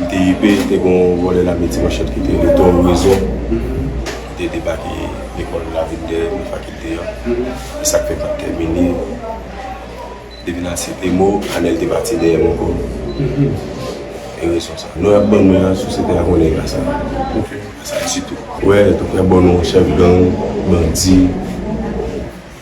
MTIP te gen yon vòlè lame ti manchèt ki te rele Don Rezon ki te debake lekòl la vin dèyè mi fakilte an. Se sa k fè pa t tèmine. Depi nan Site Mo, Anèl te pati dèyè m ankò. E rezon sa a. Non y ap ban mwen an, sosyete a konnen ka sa a. Sa a, e sitou. Wè, tout frè bon nou chèf gang, bandi.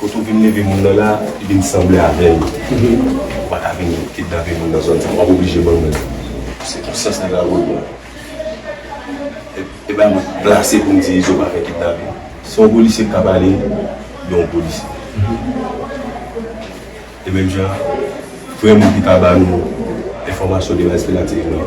Kote ou vin leve moun nan la, li vin sanble avè l. Ou pa ka vin kidnape moun nan zòn sa. W ap oblije ban mwen. Se pou sans li va voye a. E bay mwen plase pou m di Izo pa fè kidnape. Se yon polisye ki ka pale, gen yon polisye. E menm jan an, vrè moun ki ka ba nou enfòmasyon de Raz Pelatif nan.